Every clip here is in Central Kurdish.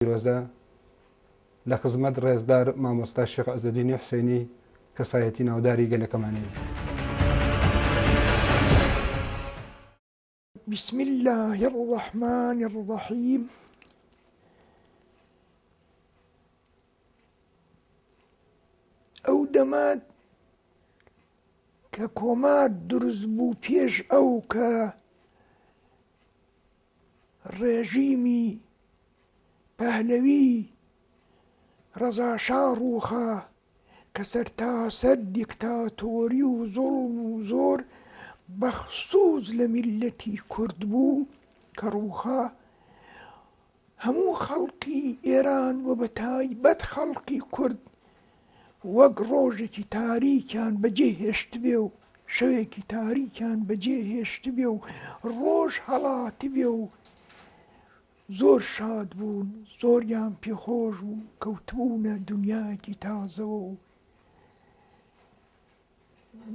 پیرۆزە لە خزمەت ڕێزدار مامۆستا شێخ عزەدینی حسێنی کەسایەتی ناوداری گەلەکەمانی. بسم الله الرحمن الرحيم ئەو دەمات کە کۆمار دروست بوو پێش ئەو کە ڕێژیمی پەهلەوی ڕەزا شا ڕووخا کە سەرتاسەر دیکتاتۆری و زوڵم و زۆر بەخسووس لە میللەتی کورد بوو کە ڕووخا، هەموو خەڵکی ئێران و بەتایبەت خەڵکی کورد، وەک ڕۆژێکی تاریکیان بەجێ هێشتبێ و شەوێکی تاریکیان بەجێ هێشتبێ و ڕۆژ هەڵاتبێ و زۆر شاد بوون زۆریان پێخۆش بوو کەوتبوونە دنیایەکی تازەوە و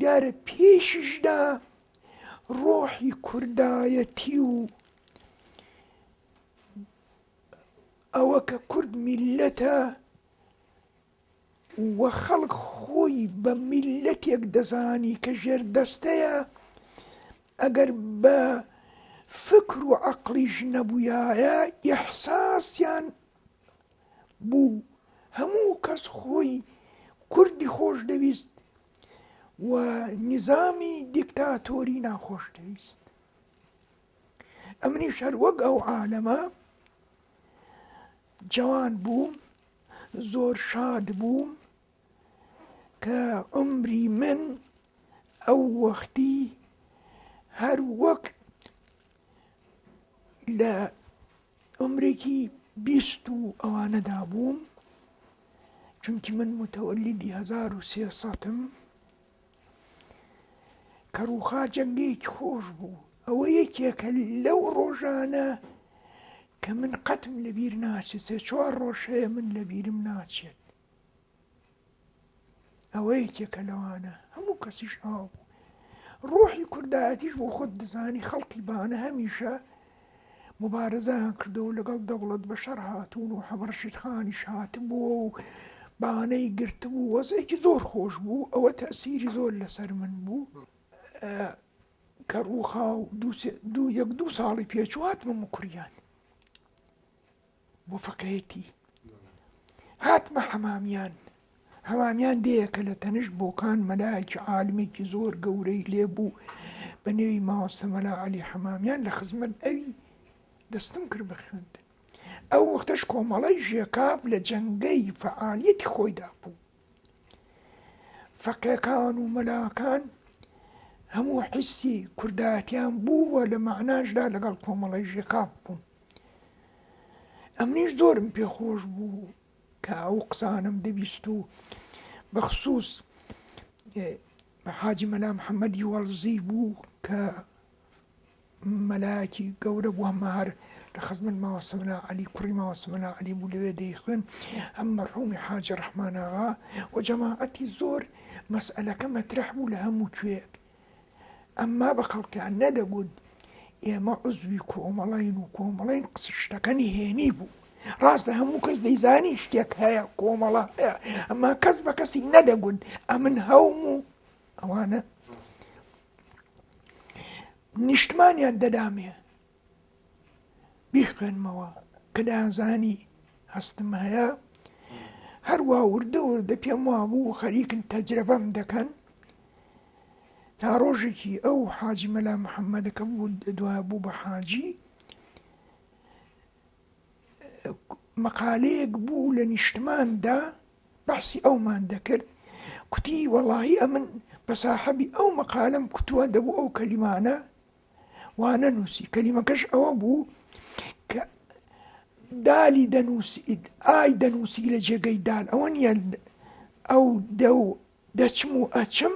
دیارە پێشیشدا ڕۆحی کوردایەتی و ئەوە کە کورد میلەتە و خەڵک خۆی بە میللەتێک دەزانی کە ژێردەستەیە، ئەگەر بە فکر و عەقڵیش نەبوویایە ئیحساسیان بوو، هەموو کەس خۆی کوردی خۆشدەویست و نیزامی دیکتاتۆری ناخۆش دەویست. ئەمنیش هەر وەک ئەو عالەمە جەوان بووم، زۆر شاد بووم کە عومری من ئەو وەختی هەر وەک لە عومرێکی بیست و ئەوانەدا بووم چونکی من متەوەلیدی هەزار و سێسەتم کەڕووخا جەنگێکی خۆش بوو ئەوە یەکێکە لەو ڕۆژانە کە من قەتم لە بیر ناچێت سێ چوار ڕۆژەیە من لە بیرم ناچێت ئەوە یەکێکە لەوانە هەموو کەسیش ئاو بوو ڕۆحی کوردایەتیش بۆ خۆت دەزانی خەڵکی بانە هەمیشە موبارزەیان کردووە و لەگەڵ دەوڵەت بەشەر هاتوون و حەمە ڕەشید خانیش هاتبووە و بانەی گرتبوو وەزعێکی زۆر خۆش بوو ئەوە تەسیری زۆر لەسەر من بوو کە ڕووخاو دوو یەک دوو ساڵی پێچوو هاتمە مکریان بۆ فەقێیەتی هاتمە حەمامیان حەمامیان دێیەکە لە تەنیشت بۆکان مەلایەکی عالمێکی زۆر گەورەی لێبوو بە نێوی ماوەسە مەلا علی حەمامیان لە خزمەت ئەوی دەستم کرد بە خوێندن ئەو وەختەش کۆمەڵی ژێکاف لە جەنگەی فعالیەتی خۆیدا بوو فەقێکان و مەلاکان هەموو حیستی کوردایەتیان بووە لە مەعناشدا لەگەڵ کۆمەڵی ژێکاف بوون ئەمنیش زۆرم پێخۆش بوو کە ئەو قسانم دەبیست و بەخصوص حاجی مەلا محەممەدی وەڵزی بوو کە مەلایەکی گەورە بوو ئەمە هەر لە خزمەت مامە سەمەلا عەلی کوڕی مامە سەمەلا عەلی بوو لەوێ دەیخوێن ئەم مەرحومی حاجی ڕەحمان ئاغا و جەماعەتی زۆر مەسئەلەکە مەترەح بوو لە هەموو کوێیەک ئەمما بە خەڵکیان نەدەگوت ئێمە عزوی کۆمەڵین و کۆمەڵین شتەکە نهێنی بوو ڕاست لە هەموو کەس دەیزانی شتێک هەیە کۆمەڵە هەیە ئەمما کەس بە کەسی نەدەگوت ئەمن هەوم و ئەوانە نیشتمانیان دەدامێ بیخوێنمەوە کە دەیانزانی هەستم هەیە هەروە وردە وردە پێم وابوو خەریکن تەجرەبەم دەکەن تا ڕۆژێکی ئەو حاجی مەلا محەممەدەکە بوو دوای بوو بە حاجی مەقالەیەک بوو لە نیشتمان دا بەحسی ئەومان دەکرد کوتی وەڵاهی ئەمن بە ساحەبی ئەو مەقالەم کوتووە دەبوو ئەو کەلیمانە وانە نووسی کەلیمەکەش ئەوە بوو کە دالی دەنووسیت ئای دەنووسی لە جێگەی دال ئەوە نیە ئەو دە و دەچم و ئەچم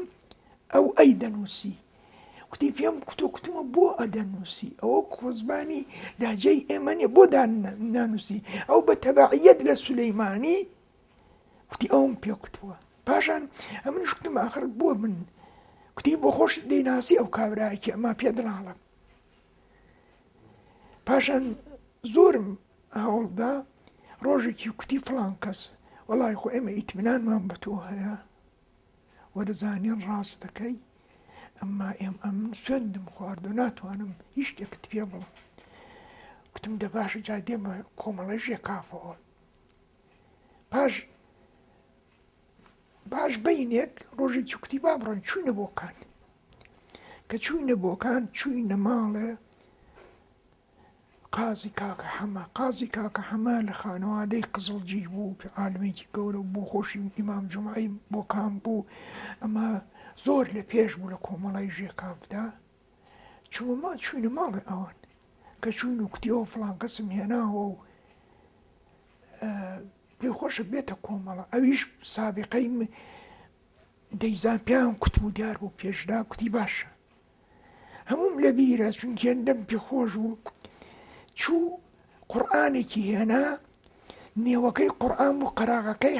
ئەو ئەی دەنووسی. کوتی پێم کوتو کوتمە بۆ ئەدەنووسی ئەوە کۆزمانی لەهجەی ئێمە نیە بۆ نانووسی ئەو بە تەبعیەت لە سولەیمانی کوتی ئەوم پێ کوتووە پاشان ئەمن شتم ئاخر بۆ من کوتی بۆ خۆش دەیناسی ئەو کابراایکی ئەما پێ دڵاڵم پاشان زۆرم هەوڵدا ڕۆژێکی کوتی فلان کەس وەڵی خۆ ئێمە ئیتمنانمان بە تۆ هەیە وەدەزانین ڕاست دەکەی ئەمما ئێم ئەم سوێندم خوارد و ناتوانم هیچ شتێکت پێ بڵم گوتم دە باشە جا دێمە کۆمەڵەی ژێ کافەوە پاش باش بەینێک ڕۆژێکی کوتی با بڕۆین چوینە بۆکان کە چوینە بۆکان چوینە ماڵێ قازی کاکە حەمە قازی کاکە حەمە لە خانەوادەی قزڵجی بوو کە عالمێکی گەورە و بۆ خۆشی ئیمام جمعی بۆ کام بوو ئەمە زۆر لە پێش بوو لە کۆمەڵای ژێکافدا چوومە چوینە ماڵێ ئەوان کە چوین و کوتیەوە فلان کەسم هێناوە و پێی خۆشە بێتە کۆمەڵە ئەویش سابقەی دەیزان پیاوم کوتم و دیار بوو پێشدا کوتی باشە هەمووم لە بیرە چونکێندەم پێ خۆش بوو چوو قورآانێکی هێنا نێوەکەی قورآان بوو قەراغەکەی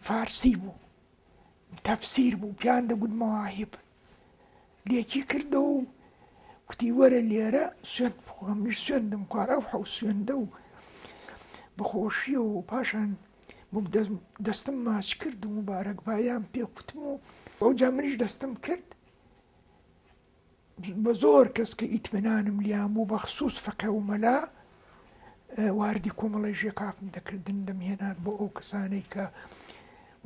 فارسی بوو تەفسیر بوو پیان دەگوت مەواهب لێکی کردەوە و کوتی وەرە لێرە سوێند بخۆ منیش سوێندم خوارد ئەو حەو سوێندە و بەخۆشیەوە و پاشان بووم دەستم ماچ کرد و مبارەکبایان پێ کوتم و ئەوجا منیش دەستم کرد بە زۆر کەس کە ئیتمنانم لیان بوو بەخصوص فەقێ و مەلا واردی کۆمەڵی ژێکافم دەکردن دەمهێنان بۆ ئەو کەسانەی کە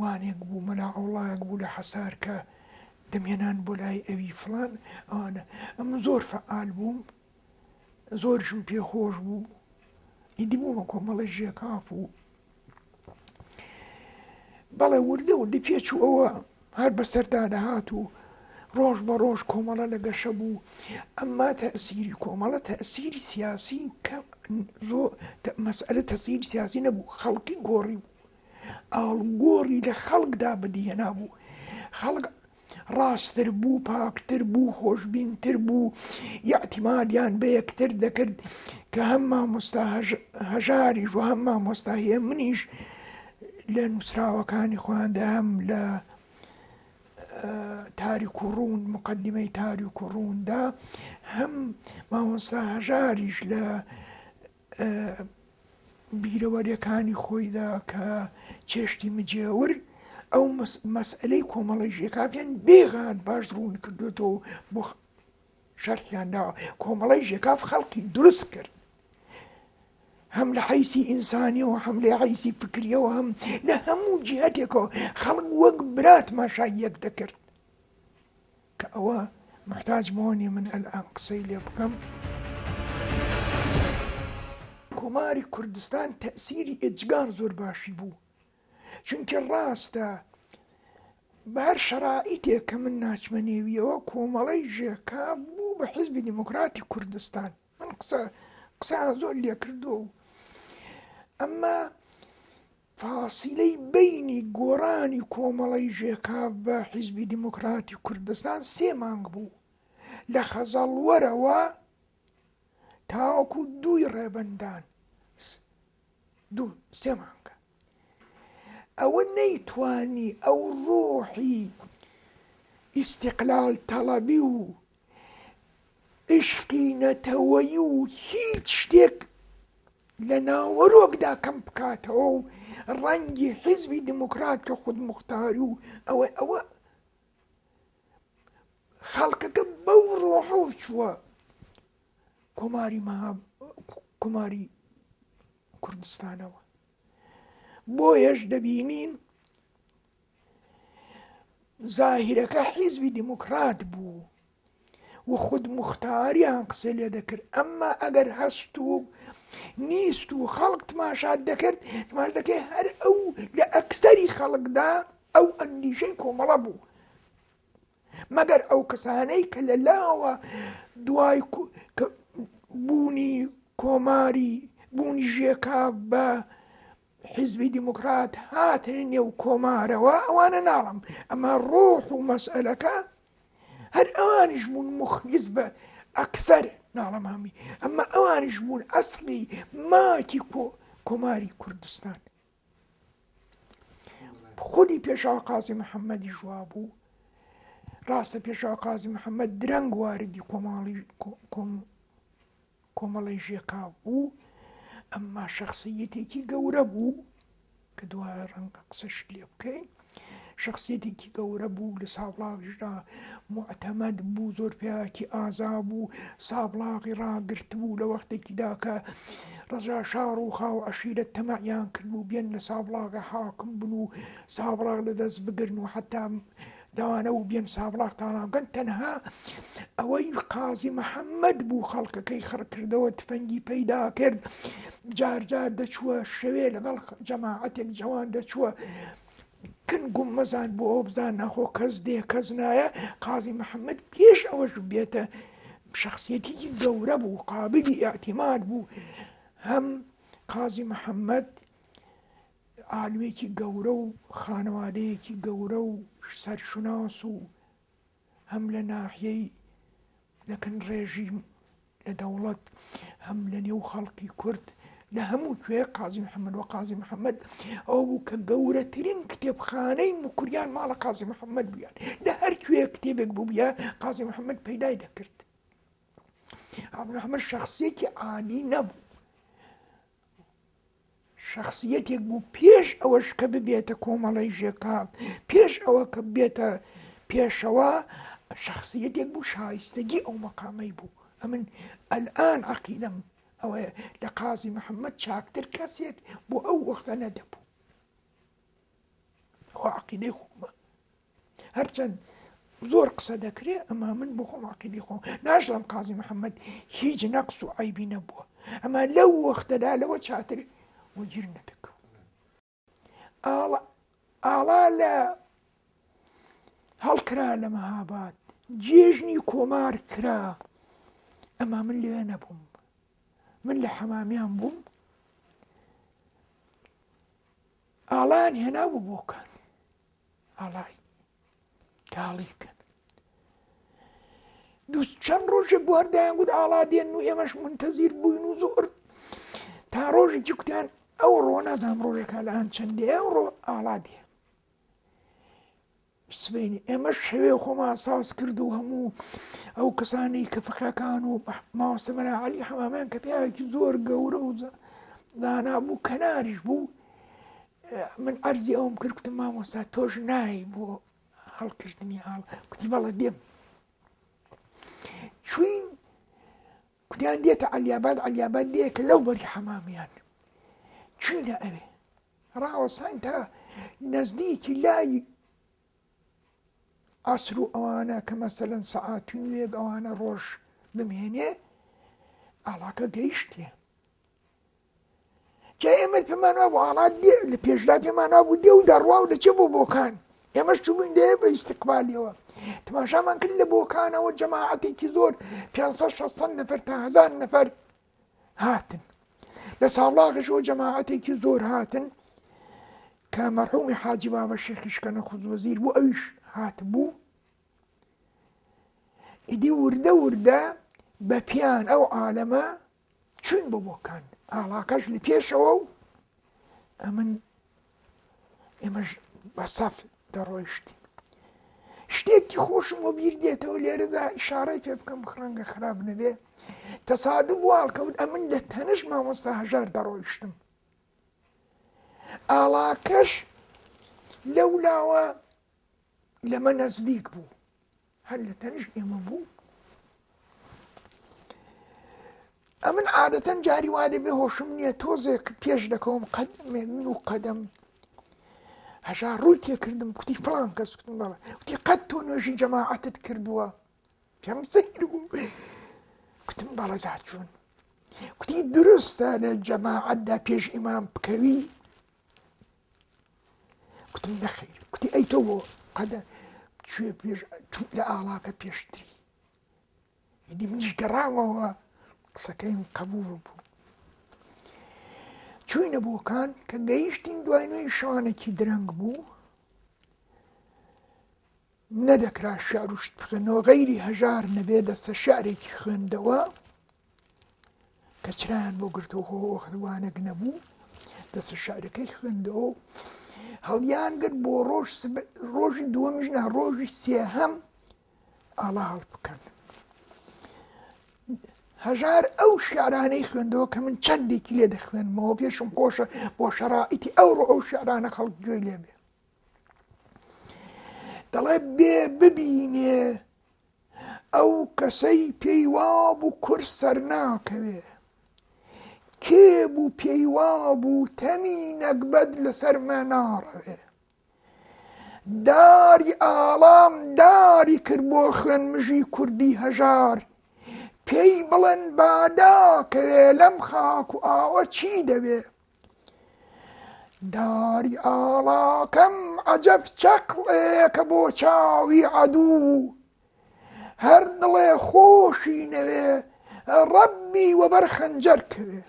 وانێک بوو مەلا ئەوڵایەک بوو لە حەسار کە دەمهێنان بۆ لای ئەوی فڵان ئەوانە ئەم زۆر فعال بووم زۆرشم پێ خۆش بوو ئیدی بوومە کۆمەڵە ژێکاف و بەڵێ وردە وردی پێچوو ئەوە هەر بەسەردا دەهات و ڕۆژ بە ڕۆژ کۆمەڵە لە گەشە بوو ئەمما تەسیری کۆمەڵە تەسیری سیاسی کە زۆ مەسئلە تەسیری سیاسی نەبوو خەڵکی گۆڕی بوو ئاڵوگۆڕی لە خەڵکدا بەدیهێنابوو، خەڵک ڕاستتر بوو، پاکتر بوو، خۆشبینتر بوو، ئیعتیمادیان بە یەکتر دەکرد کە هەم مامۆستا هەژاریش و هەم مامۆستا هێمنیش لە نووسراوەکانی خۆیاندا هەم لە تاریک و ڕوون مقدمەی تاریک و ڕووندا هەم مامۆستا هەژاریش لە بیرەوەریەکانی خۆیدا کە چێشتی مجێور ئەو مەسئلەی کۆمەڵی ژێکافیان بێغات باش ڕوون کردوێتەوە بۆ شەرحیان داوە کۆمەڵی ژێکاف خەڵکی دروست کرد هەم لە حیسی ئینسانیەوە هەم لە حیسی فکریەوە هەم لە هەموو جیهاتێکەوە خەڵک وەک برات ماشای یەک دەکرد کە ئەوە موحتاج بەوە نیە من ئەلئان قسەی لێ بکەم. کۆماری کوردستان تەئسیری ئێجگار زۆر باشی بوو چونکی ڕاستە بە هەر شەرائیتێک کە من ناچمە نێویەوە کۆمەڵەی ژێکا بوو بە حیزبی دیموکراتی کوردستان من قسە قسەیان زۆر لێ کردووە و ئەمما فاسیلەی بەینی گۆڕانی کۆمەڵەی ژێکاف بە حیزبی دیموکراتی کوردستان سێ مانگ بوو، لە خەزەڵوەرەوە تاوەکو دووی ڕێبەندان سێ مانگە. ئەوە نەیتوانی ئەو ڕۆحی ئیستیقلال تەڵەبی و عیشقی نەتەوەیی و هیچ شتێک لە ناوەرۆکدا کەم بکاتەوە و ڕەنگی حیزبی دیموکرات کە خودموختاری و ئەوە ئەوە خەڵکەکە بەو ڕۆحە و چووە کۆماری مەهاب کۆماری کوردستانەوە بۆیەش دەبینین زاهیرەکە حیزبی دیموکرات بوو و خود مختاریان قسە لێ دەکرد ئەمما ئەگەر هەست و نیست و خەڵک تماشات دەکرد تماش دەکەی هەر ئەو لە ئەکسەری خەڵکدا ئەو ئەندیشەی کۆمەڵە بوو مەگەر ئەو کەسانەی کە لە لاوە دوای بوونی کۆماری بوونی ژێکا بە حیزبی دیموکرات هاتنە نێو کۆمارەوە ئەوانە ناڵم ئەمە ڕۆح و مەسئلەکە هەر ئەوانیش بوون مخلیس بە ئەکسەر ناڵم هەمی ئەمە ئەوانیش بوون ئەسڵی ماکی کۆ کۆماری کوردستان خودی پێشاو قازی محەممەدی ژوا بوو ڕاستە پێشاو قازی محەممەد درەنگ واردی کۆماڵی کۆمەڵەی ژێکاف بوو، ئەمما شەخسییەتێکی گەورە بوو، کە دوایە ڕەنگە قسەشی لێ بکەین، شەخسییەتێکی گەورە بوو، لە سابڵاغیشدا موعتەمەد بوو، زۆر پیاوێکی ئازا بوو، سابڵاغی ڕاگرتبوو لە وەختێکیدا کە ڕەزا شا ڕووخا و عەشیرەت تەماعیان کردبوو بێن لە سابڵاغ حاکم بن و سابڵاغ لەدەست بگرن و حەتا لەوانە و بێن سابڵاغ تاڵانگەن تەنها ئەوەی قازی محەممەد بوو خەڵکەکەی خڕکردەوە تفەنگی پەیدا کرد جارجار دەچووە شەوێ لەگەڵ جەماعەتێک جوان دەچووە کنگوم مەزان بۆ ئەو بزان ناخۆ کەس دێ کەس نایە قازی محەممەد پێش ئەوەش بێتە شخصیەتیکی گەورە بوو قابلی ئاعتیماد بوو هەم قازی محەممەد عالمێکی گەورە و خانەوادەیەکی گەورە و سەرشوناس و هەم لە ناحیەی لەکن ڕێژیم لە دەوڵەت هەم لە نێو خەڵکی کورد لە هەموو کوێ قازی محەممەد و قازی محەممەد ئەو بوو کە گەورەترین کتێبخانەی مکوریان ماڵە قازی محەممەد بوویان لە هەر کوێ کتێبێک بووە قازی محەممەد پەیدای دەکرد ئەمە شخصێکی عالی نەبوو شەخسیەتێک بوو پێش ئەوەش کە ببێتە کۆمەڵەی ژێکا، پێش ئەوە کە ببێتە پێشەوا، شەخسیەتێک بوو شایستەگی ئەو مەقامەی بوو. ئەمن ئەلئان عەقیدەم ئەوەیە لە قازی محەمەد چاکتر کەسێک بۆ ئەو وەختە نەدەبوو. ئەوە عەقیدەی خۆمە. هەرچەند زۆر قسە دەکرێ ئەما من بۆ خۆم عقیدی خۆم ناشڵم قازی محەممەد هیچ نەقص و عیبی نەبووە ئەما لەو وەختەدا لەوە چاتر وەگیر نەدەکەم ئاڵا لە هەڵکرا لە مەهاباد جێژنی کۆمار کرا ئەما من لێ نەبووم من لە حەمامیان بووم ئاڵان هێنا بوو بۆکان ئاڵای کاڵی بکەن دوو چەند ڕۆژێک بواردایان گوت ئاڵا دێن و ئێمەش منتەزیر بووین و زۆر تا ڕۆژێکی کوتیان ئەو ڕۆ نازام ڕۆژەکە لە ئەم چەندێ ئەو ڕۆ ئاڵا دێ سبینی ئێمە شەوێ خۆمان ساز کرد و هەموو ئەو کەسانی کە فەکەکان و ماوەستەمەە علی حەمامیان کە پیاوێکی زۆر گەورە و زانا بوو کەناریش بوو من عەرزی ئەوەم کرد کوتم مامۆستا تۆش نایی بۆ هەڵکردنی ئاڵ کوتی بەڵە دێم چوین کوتیان دێتە علیاباد علیاباد دێکە لەو بەری حەمامیان چوینە ئەوێ ڕاوەسان تا نزدیکی لای عسر و ئەوانە کە مەسەەن سەعاتون وێک ئەوانە ڕۆژ بمێنێ ئاڵاکە گەیشتێ جا ئێمە پێمان وابوو هەڵات دێ لە پێشدا پێمان وابوو دێ و دەڕوا و دەچێ بۆ بۆکان ئێمەش چوبووین لێ بە ئیسیقبالیەوە تماشامان کرد لە بۆکانەوە جەماعەتێکی زۆر 500 نەفر تا هزار نەفر هاتن لە ساڵاغشەوە جەماعەتێکی زۆر هاتن کە مەرحومی حاجی بابە شێخیشکەنە خودوەزیر بوو ئەویش هات بوو ئیدی وردە وردە بە پیان ئەو عالەمە چووین بۆ بۆکان ئاڵاکەش لە پێشەوە و ئەمن ئێمەش بە سەف دەڕۆیشتین شتێکی خۆشم و بیر دێتەوە لێرەدا شارەی پێ بکەم خڕەنگە خراپ نەبێ تەسادو واڵکەوت ئەمن لە تەنش مامۆستا هەژار دەڕۆیشتم ئاڵاکەش لەو لاوە لەمە نزدیک بوو هەر لە تەنیشت ئێمە بوو ئەمن عادەتەن جاری وا دەبێ هۆشم نییە تۆزێک پێش دەکەوم قەد من و قەدەم هەژا ڕووی تێکردم کوتی فلان کەس کوتم بەڵە کوتی قەت تۆ نوێژی جەماعەتت کردووە پێم سەیر بوو کوتم بەڵە جاچوون کوتی دروستە لە جەماعەتدا پێش ئیمام بکەوی کوتی نەخیر کوتی ئەی تۆ بۆ قەدە کوێ پێش لە ئاڵاکە پێشتری یدی منیش گەڕاوەوە قسەکەیم قبول بوو چوینە بۆکان کە گەیشتین دوای نوێی شانێکی درەنگ بوو نەدەکرا شعر و شتخوێن و غەیری هەژار نەبێ دەستە شعرێکی خوێندەوە کە چرایان بۆ گرتو خۆ وەختوانەک نەبوو دەستە شعرەکەی خوێندەوە هەڵیان گرت بۆ ڕۆژ ڕۆژی دووەمیش نا ڕۆژی سێهەم ئاڵا هەڵ بکەن هەژار ئەو شعرانەی خوێندەوە کە من چەندێکی لێ دەخوێنمەوە پێشم خۆشە بۆ شەڕائیتی ئەوڕۆ ئەو شعرانە خەڵک گوێی لێبێ دەڵێ بێ ببینێ ئەو کەسەی پێی وابوو کورد سەرناکەوێ کێ بوو پێی وابوو تەمی نەگبەت لەسەرمە ناڕەوێ داری ئاڵام داری کرد بۆ خوێن مژی کوردی هەژار پێی بڵێن باداکەوێ لەم خاک و ئاوە چی دەوێ داری ئاڵاکەم عەجەب چەقڵێکە بۆ چاوی عەدوو هەر دڵێ خۆشی نەوێ ڕەبی وەبەر خەنجەر کەوێ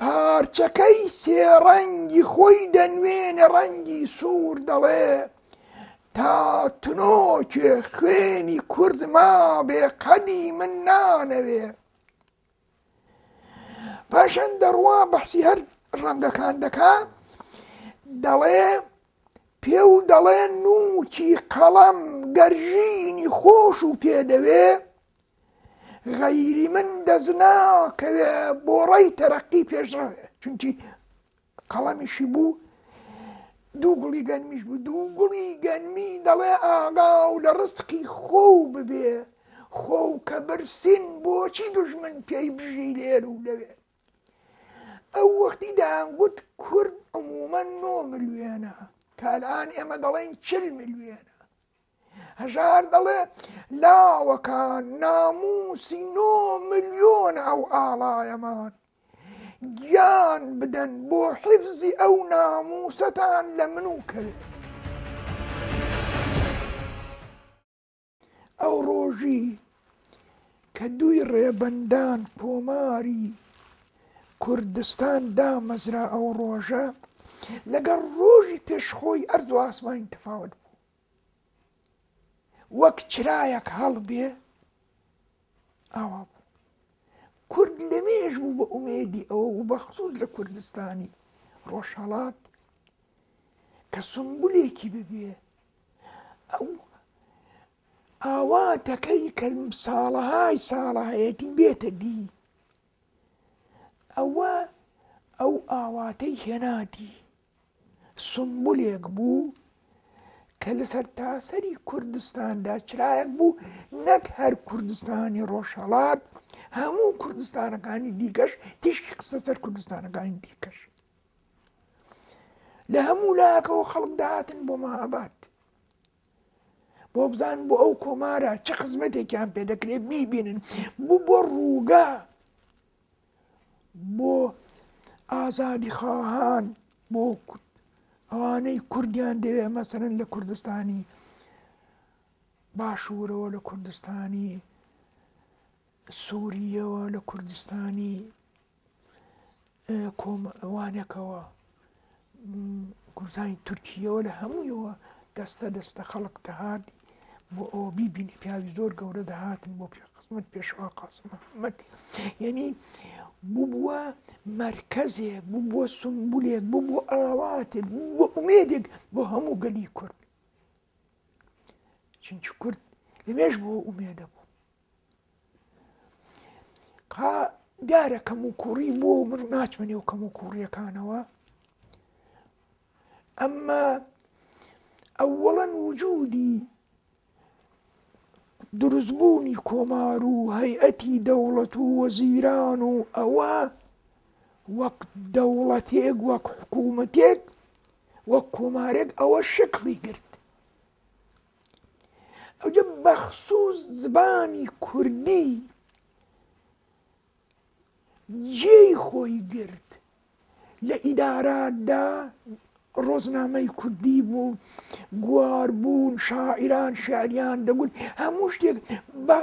پارچەکەی سێڕەنگی خۆی دەنوێنە ڕەنگی سوور دەڵێ تا تنۆکێ خوێنی کورد مابێ قەدی من نانەوێ پاشان دەڕوا بەحسی هەر ڕەنگەکان دەکا دەڵێ پێ و دەڵێ نوکی قەڵەم گەرژینی خۆش و پێدەوێ غەیری من دەزناکەوێ بۆ ڕێی تەرەقی پێشڕەوێ چونکی قەڵەمیشی بوو دوو گوڵی گەنمیش بوو دوو گوڵی گەنمی دەڵێ ئاغا و لە ڕستقی خۆ و ببێ خۆ و کە برسین بۆچی دژمن پێی بژی لێر و لەوێ ئەو وەختی دەیانگوت کورد عمومەن نۆ ملیێنە کالان ئێمە دەڵێن چل ملیێنە هەژار دەڵێ لاوەکان ناموسی نۆ ملیۆن ئەو ئاڵایەمان گیان بدەن بۆ حیفزی ئەو ناموسەتان لە من و کەوێت ئەو ڕۆژی کە دووی ڕێبەندان کۆماری کوردستان دامەزرا ئەو ڕۆژە لەگەڵ ڕۆژی پێشخۆی ئەرد و ئاسمانی تەفاوت بوو وەک چرایەک هەڵبێ ئاوا بوو کورد لەمێژ بوو بە ئومێدی ئەوە و بەخصوص لە کوردستانی ڕۆژهڵات کە سمبولێکی ببێ ئەو ئاواتەکەی کە ساڵەهای ساڵەهەیەتی بێتە دی ئەوە ئەو ئاواتەی هێناتی سومبولێک بوو کە لە سەرتاسەری کوردستاندا چرایەک بوو نەک هەر کوردستانی ڕۆژهەڵات هەموو کوردستانەکانی دیکەش تیشکی قسە سەر کوردستانەکانی دیکەش لە هەموو لاکەوە خەڵک داهاتن بۆ مەهاباد بۆ بزان بۆ ئەو کۆمارە چه خزمەتێکیان پێ دەکرێت میبینن بوو بۆ ڕووگە بۆ ئازادی خواهان بۆ ئەوانەی کوردیان دەوێ مەسەرن لە کوردستانی باشوورەوە لە کوردستانی سووریەوە لە کوردستانی کۆمەوانەکەوە گورزانی تورکییەوە لە هەموویەوە دەستە دەستە خەڵک دەهات بۆ ئەوە بیبینی پیاوی زۆر گەورە دەهاتن بۆ پێ خزمەت پێشەوە قاسم محمد یعنی ببووە مرکزێک ببووە سمبولێک ببوو ئاواتێک بۆ ئومێدێک بۆ هەموو گەلی کورد چونکی کورد لەمێش بۆ ئومێدە بوو ها دیارە کەم و کوڕی بۆ من ناچمە نێو کەم و کوڕیەکانەوە ئەمما ئەوەڵەن وجودی دروستبوونی کۆمار و هەیئەتی دەوڵەت و وەزیران و ئەوە وەک دەوڵەتێک وەک حکوومەتێک وەک کۆمارێک ئەوە شکڵی گرت ئەوجە بەخسووس زبانی کوردی جێی خۆی گرت لە ئیداراتدا ڕۆزنامەی کوردی بوو گوار بوون شاعران شاریان دەگوت هەموو شتێک بە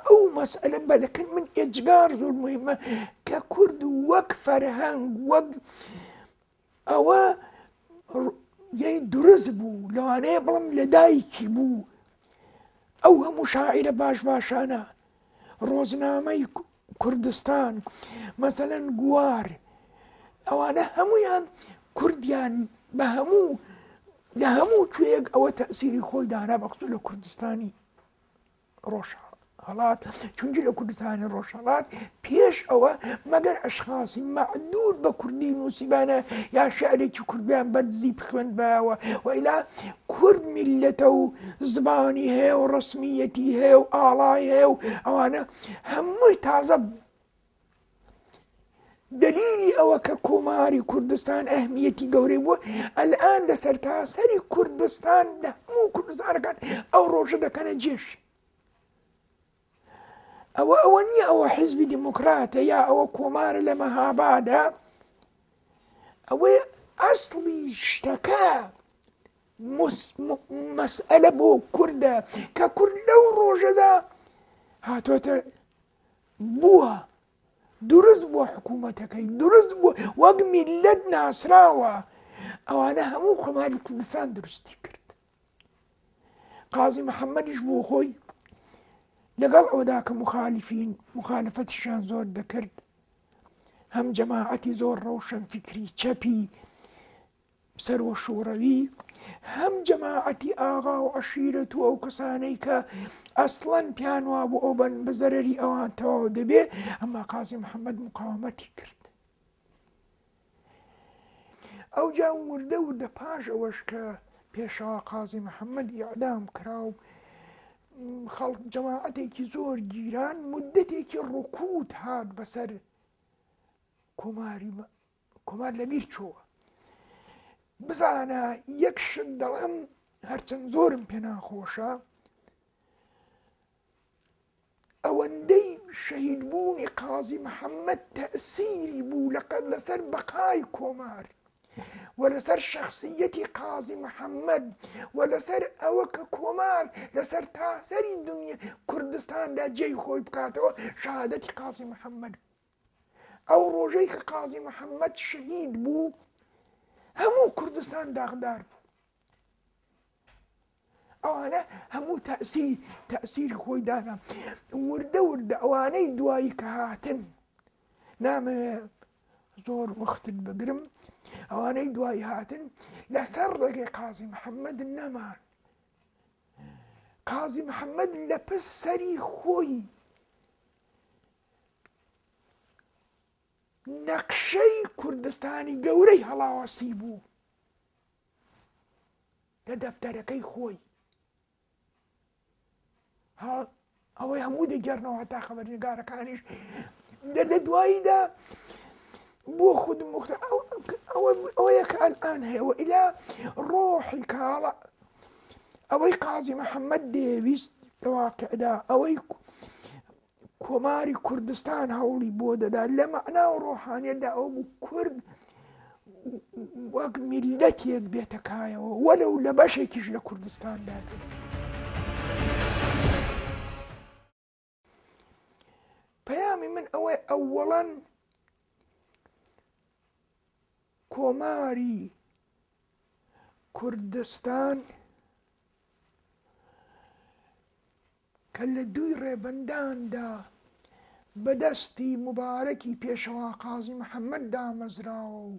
ئەو مەسئلە بەلەکن من ئێجگار زۆر مهمە کە کورد وەک فەرهەنگ وەک ئەوە یەی دروست بوو لەوانەیە بڵم لە دایکی بوو ئەو هەموو شاعرە باش باشانە ڕۆزنامەی کوردستان مەسەەن گووار ئەوانە هەمویان کوردیان بە هەموو لە هەموو کوێک ئەوە تەسیری خۆی دانا بەخص لە کوردستانی ڕۆژهەڵات چونکی لە کوردستانی ڕۆژهەڵات پێش ئەوە مەگەر ئەشخاسی مەعدود بە کوردی نووسیبانە یا شعرێکی کوردیان بەدزی بخوێندبایەوە وئیلا کورد میلەتە و زمانی هەیە و ڕسمیەتی هەیە و ئاڵای هەیە و ئەوانە هەمووی تازە دەلیلی ئەوە کە کۆماری کوردستان ئەهمیەتی گەورەی بووە ئەلان لە سەر تاسەری کوردستان لە هەموو کوردستانەکان ئەو ڕۆژە دەکەنە جێش ئەوە ئەوە نییە ئەوە حیزبی دیموکراتە یا ئەوە کۆمارە لە مەهابادا ئەوەی ئەسڵی شتەکە مەسئلە بۆ کووردە کە کورد لەو ڕۆژەدا هاتۆتە بووە دروست بووە حکوومەتەکەی دروست بووە وەک میلەت ناسراوە ئەوانە هەموو کۆماری کوردستان دروستی کرد قازی محەممەدیش بۆ خۆی لەگەڵ ئەودا کە مخالفین مخالفەتیشان زۆر دەکرد هەم جەماعەتی زۆر ڕەوشەن فکری چەپی سەر و شوڕەوی هەم جەماعەتی ئاغا و عەشیرەت و ئەو کەسانەی کە ئەسڵەن پیان وابوو ئەو بەن بە زەرری ئەوان تەواو دەبێ ئەمما قازی محەممەد مقاومەتی کرد ئەو جا وردە وردە پاش ئەوەش کە پێشەوا قازی محەممەد یعدام کرا و خەڵک جەماعەتێکی زۆر گیران مدەتێکی ڕکوت هات بەسەر کۆماری کۆمار لەبیر چۆوە بزانە یەک شت دەڵێم هەرچەند زۆرم پێناخۆشە ئەوەندەی شەهید بوونی قازی محەممەد تەسیری بوو لەقەت لەسەر بەقای کۆمار و لەسەر شخصیەتی قازی محەممەد و لەسەر ئەوە کە کۆمار لەسەر تاسەری دنیا کوردستاندا جێی خۆی بکاتەوە شادەتی قازی محەممەد ئەو ڕۆژەی کە قازی محەممەد شەهید بوو هەموو کوردستان داغدار بوو ئەوانە هەموو تاسی تاسیری خۆی دانا وردە وردە ئەوانەی دوایی کە هاتن نامە زۆر وەختت بگرم ئەوانەی دوایی هاتن لەسەر ڕێگەی قازی محەممەد نەمان قازی محەممەد لە پس سەری خۆی نەخشەی کوردستانی گەورەی هەڵاواسی بوو لە دەفتەرەکەی خۆی ئەوەی هەموو دەگەرنەوە هەتا خەبەرنگارەکانیش لە دواییدا بۆ خود مختار ئەوەیە کە ئەلان هەیە و ئیلا ڕۆحی کاڵە ئەوەی قازی محەممەد دەیەویست لە واقعدا ئەوەی کۆماری کوردستان هەوڵی بۆ دەدات لە مەعنا و ڕۆحانیەتدا ئەو بوو کورد وەک میلەتێک بێتە کایەوە وەلە و لە بەشێکیش لە کوردستاندا بێت. پەیامی من ئەوەی ئەوەڵەن کۆماری کوردستان کە لە دووی ڕێبەنداندا بە دەستی موبارەکی پێشەوا قازی محەممەد دامەزراوە و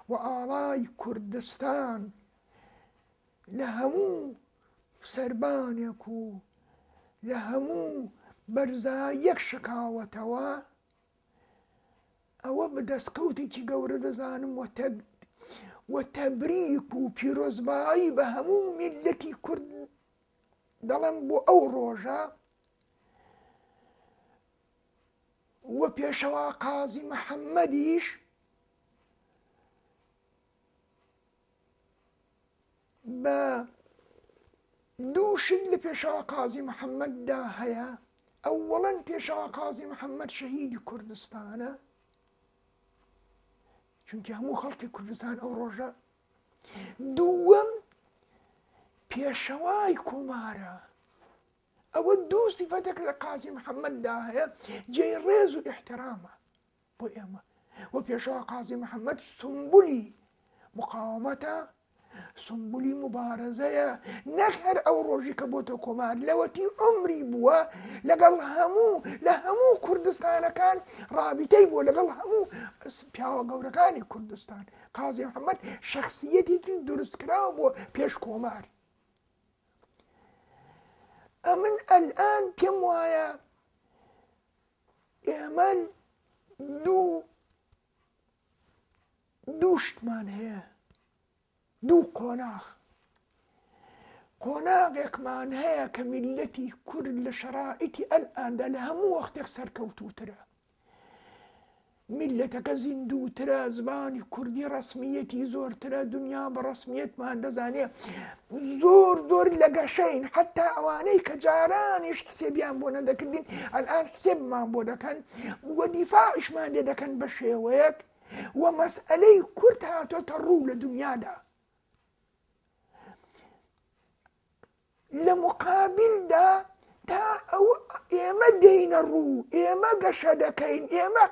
و ئاڵای کوردستان لە هەموو سەربانێک و لە هەموو بەرزاییەک شکاوەتەوە، ئەوە بە دەستکەوتێکی گەورە دەزانم و تەگ و تەبریک و پیرۆزبایی بە هەموو میللەتی کورد دەڵێم بۆ ئەو ڕۆژە وە پێشەوا قازی محەممەدیش بە دووشت لە پێشەوا قازی محەممەددا هەیە ئەوەڵەن پێشەوا قازی محەممەد شەهیدی کوردستانە چونکی هەموو خەڵکی کوردستان ئەو ڕۆژە دووەم پێشەوای کۆمارە ئەوە دوو سیفەتێک لە قازی محەممەددا هەیە جێی ڕێز و احترامە بۆ ئێمە و پێشەوە قازی محەممەد سمبولی مقاومەتە سمبولی مبارەزەیە نەک هەر ئەو ڕۆژی کە بۆتە کۆمار لەوەتی عمری بووە لەگەڵ هەموو لە هەموو کوردستانەکان ڕابیتەی بووە لەگەڵ هەموو پیاوە گەورەکانی کوردستان قازی محەمەد شخصیەتێکی دروستکراو بۆ پێش کۆمار ئەمن ئەلان پێم وایە ئێمە دوو دووشتمان هەیە دوو قۆناخ قۆناغێکمان هەیە کە میلەتی کورد لە شەرائیتی ئەلئاندا لە هەموو وەختێک سەرکەوتوترە میللەتەکە زیندووترە زمانی کوردی ڕسمیەتی زۆرترە دنیا بە ڕسمیەتمان دەزانێ زۆر زۆر لە گەشەین حتا ئەوانەی کە جارانیش حسێبیان بۆ نەدەکردین ئەلان حسێبمان بۆ دەکەن وە دیفاعشمان لێ دەکەن بە شێوەیەک وە مەسئلەی کورت هاتۆتە ڕوو لە دنیادا لە موقابیلدا تا ئەو ئێمە دێینە ڕوو، ئێمە گەشە دەکەین، ئێمە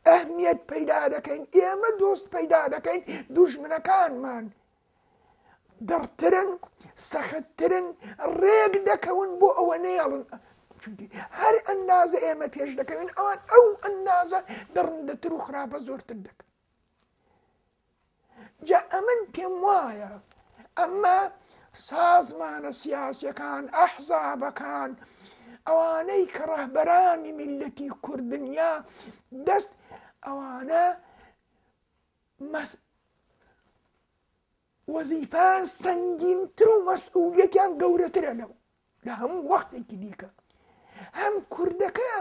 ئەهمیەت پەیدا دەکەین، ئێمە دۆست پەیدا دەکەین، دوژمنەکانمان دڕترن، سەختترن، ڕێک دەکەون بۆ ئەوە نەیەڵن هەر ئەندازە ئێمە پێش دەکەوین ئەوان ئەو ئەندازە دڕندەتر و خراپە زۆرتر دەکەن. جا ئەمن پێم وایە ئەمە سازمانە سیاسیەکان ئەحزابەکان ئەوانەی کە ڕەهبەرانی میلەتی کوردنیا دەست ئەوانە مەس وەزیفان سەنگینتر و مەسئولیەتیان گەورەترە لەو لە هەموو وەختێکی دیکە هەم کوردەکە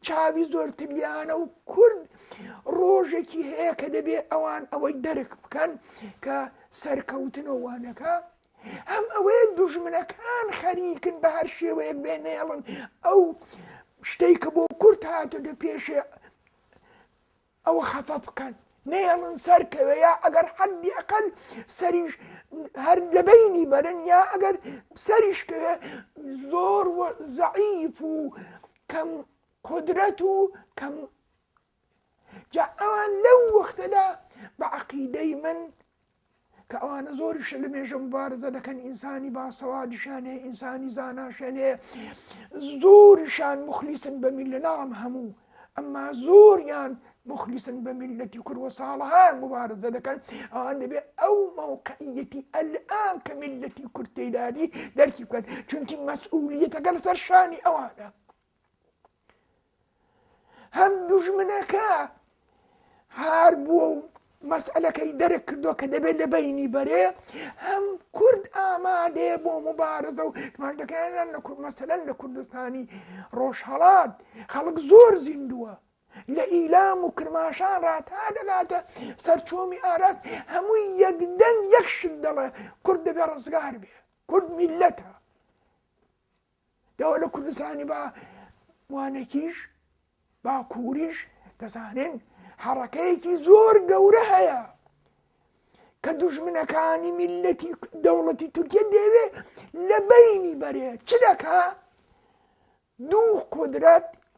چاوی زۆرتریانە و کورد ڕۆژێکی هەیە کە دەبێ ئەوان ئەوەی دەرک بکەن کە سەرکەوتنەوانەکە هەم ئەوەیە دوژمنەکان خەریکن بە هەر شێوەیەک بێنێڵن ئەو شتێک کە بۆ کورت هاتە دە پێشێ ئەوە خەفە بکەن نەیەڵن سەر کەوێ یا ئەگەر حەدی ئەقل سەریش هەر لەبینی بەرن یا ئەگەر سەریش کەوێ زۆر زەعیف و کەم قدرەت و کەم جا ئەوان لەو وەختەدا بە عقیدەی من کە ئەوانە زۆریش لە مێژە مبارزە دەکەن ئینسانی باسەوادیشان هەیە ئینسانی زاناشێن هەیە زۆریشان مخلیسن بە میل لە ناڵم هەموو ئەمما زۆریان مخلیسن بە میلەتی کوروە ساڵەهان مبارزە دەکەن ئەوان دەبێت ئەو مەوقعیەتی ئەلان کە میلەتی کورتەیدادی دەرکی بکەن چونکی مەسئولیتەکە لەسەر شانی ئەوانە. هەم دوژمنەکە هار بووە و مەسئلەکەی دەرک کردو کە دەبێت لە بینی بەرێ هەم کورد ئامادەیە بۆ مبارزە و مادەکەیان لە کورد مەسەلەن لە کوردستانی ڕۆژهڵات خەڵک زۆر زیندووە لە ئیلام و کرماشان ڕاتا دەگاتە سەرچۆمی ئاراست هەمووی یەک دەنگ یەک شت دەڵێ کورد دەبێ ڕزگار بێ کورد میلەتە ئێوە لە کوردستانی با وانەکیش باکووریش دەزانن حەڕەکەیەکی زۆر گەورە هەیە کە دوژمنەکانی میلەتی دەوڵەتی تورکیا دەوێ لە بینی بەرێت چ دەکا دوو قدرەت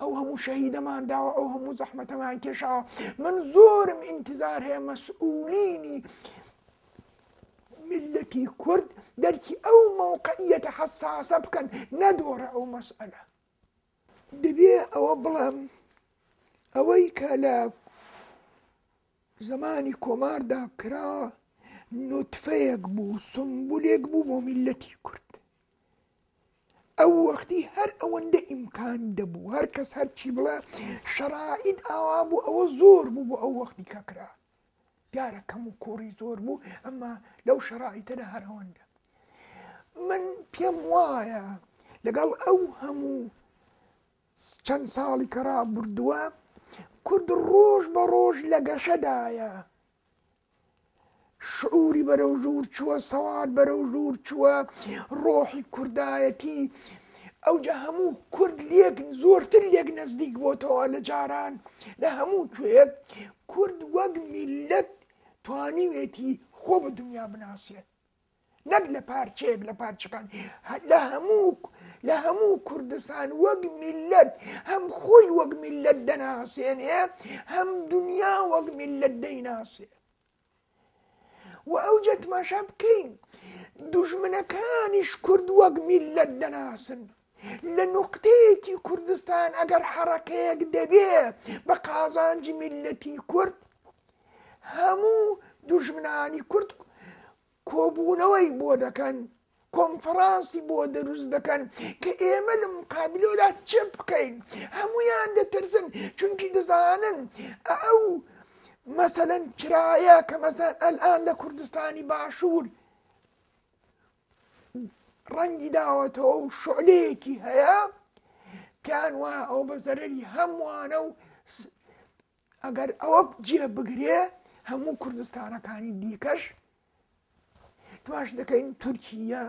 ئەو هەموو شەهیدەمان داوە ئەو هەموو زەحمەتەمان کێشاوە من زۆرم ئینتزار هەیە مەسئولینی ملەتی کورد دەرکی ئەو مەوقعیەتە حەساسە بکەن نەدۆڕە ئەو مەسئلە دەبێ ئەوە بڵێم ئەوەی کە لە زمانی کۆماردا کرا نوتفەیەک بوو سمبولێک بوو بۆ میلەتی کورد ئەو وەختی هەر ئەوەندە ئیمکان دەبوو هەر کەس هەرچی بڵێ شەڕائید ئاوا بوو ئەوە زۆر بوو بۆ ئەو وەختی کەکرا دیارە کەم و کوڕی زۆر بوو ئەمما لەو شەڕائیتەدا هەر ئەوەندە من پێم وایە لەگەڵ ئەو هەموو چەند ساڵی کە ڕابردووە کورد ڕۆژ بە ڕۆژ لە گەشەدایە شعوری بەرەو ژوور چووە، سەواد بەرەو ژوور چووە، ڕۆحی کوردایەتی ئەوجا هەموو کورد لێک زۆرتر لێک نزدیک بۆتەوە لە جاران لە هەموو کوێک کورد وەک میلەت توانیوێتی خۆ بە دنیا بناسێت نەک لە پارچەیەک لە پارچەکان لە هەموو لە هەموو کوردستان وەک میلەت هەم خۆی وەک میلەت دەناسێنێ هەم دنیا وەک میلەت دەیناسێ و ئەو جەتماشا بکەین دوژمنەکانیش کورد وەک میلەت دەناسن لە نوقتەیەکی کوردستان ئەگەر حەڕەکەیەک دەبێ بە قازانجی میللەتی کورد هەموو دوژمنانی کورد کۆبوونەوەی بۆ دەکەن کۆنفرانسی بۆ دەروست دەکەن کە ئێمە لە مقابلەوەدا چ بکەین هەمویان دەترسن چونکی دەزانن ئەو مەسەەن چرایە کە مەسەن ئەلان لە کوردستانی باشوور ڕەنگی داوەتەوە و شعلەیەکی هەیە پێیان وایە ئەو بە زەرری هەمووانە و ئەگەر ئەوە جێ بگرێ هەموو کوردستانەکانی دیکەش تواش دەکەین تورکیا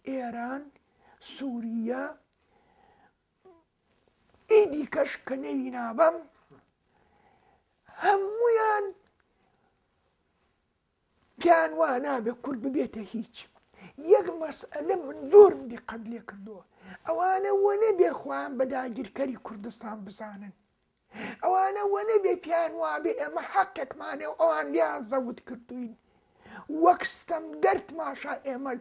ئێران سووریا ئی دیکەش کە نەوی نابم هەمویان پێیان وا نابێ کورد ببێتە هیچ یەک مەسئلە من زۆرم دیقەت لێ کردووە ئەوانە وە نەبێ خۆیان بە داگیرکەری کوردستان بزانن ئەوانە وە نەبێ پیان وابێ ئێمە حەقێکمانێ و ئەوان لیان زەوت کردوین وەک ستەم گەرت ماشا ئێمە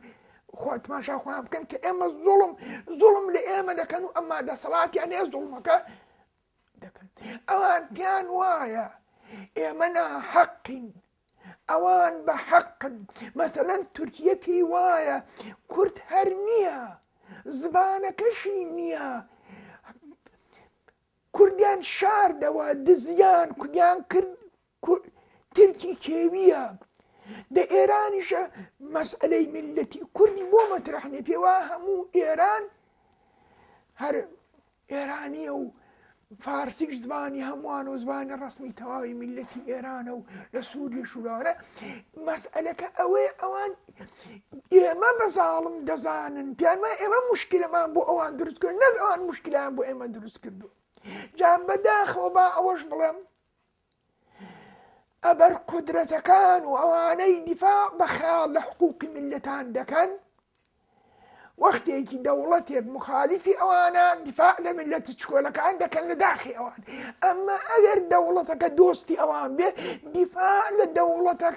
خۆت ماشا خۆیان بکەن کە ئێمە زوڵم زوڵم لە ئێمە دەکەن و ئەمما دەسەڵاتیان هەیە زوڵمەکە دەکەن ئەوان پێیان وایە ئێمە ناحەقین ئەوان بە حەقن مەسەلەن تورکیە پێی وایە کورد هەر نییە زبانەکەشی نییە کوردیان شاردەوە دزیان کوردیان کرد کورد ترکی کێویە دە ئێرانیشە مەسئلەی میلەتی کوردی بۆ مەترح نیە پێوا هەموو ئێران هەر ئێرانیە و فارسیش زبانی هەمووان و زبانی ڕسمی تەواوی میلەتی ئێرانە و لە سووری شوورانە مەسئلەکە ئەوەیە ئەوان ئێمە بە زاڵم دەزانن پیانمە ئێمە مشکلەمان بۆ ئەوان دروست کرد نەک ئەوان مشکلیان بۆ ئێمە دروست کردو جا بەداخەوە با ئەوەش بڵێم ئەبەرقودرەتەکان و ئەوانەی دیفاع بە خەیاڵ لە حقووقی میللەتان دەکەن، وەختێکی دەوڵەتێک مخالیفی ئەوانە دیفاع لە میللەتە چکۆلەکان دەکەن لە داخی ئەوان. ئەمما ئەگەر دەوڵەتەکە دۆستی ئەوان بێ دیفاع لە دەوڵەتە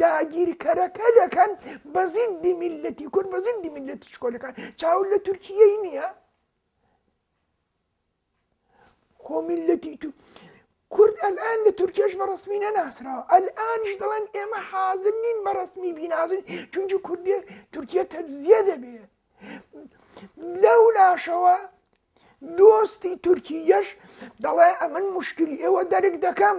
داگیرکەرەکە دەکەن بە زیدی میللەتی کورد بە زیدی میللەتە چکۆلەکان چاو لە تورکیەی نییە؟ خۆ میلەتی تو کورد ئەلان لە تورکێش بە ڕسمی نەناسراوە ئەلانش دەڵێن ئێمە حازر نین بە ڕسمی بینازن چونکی کوردێ تورکیا تەجزیە دەبێ لەو لاشەوە دۆستی تورکیەش دەڵێ ئەمن مشکلی ئێوە دەرک دەکەم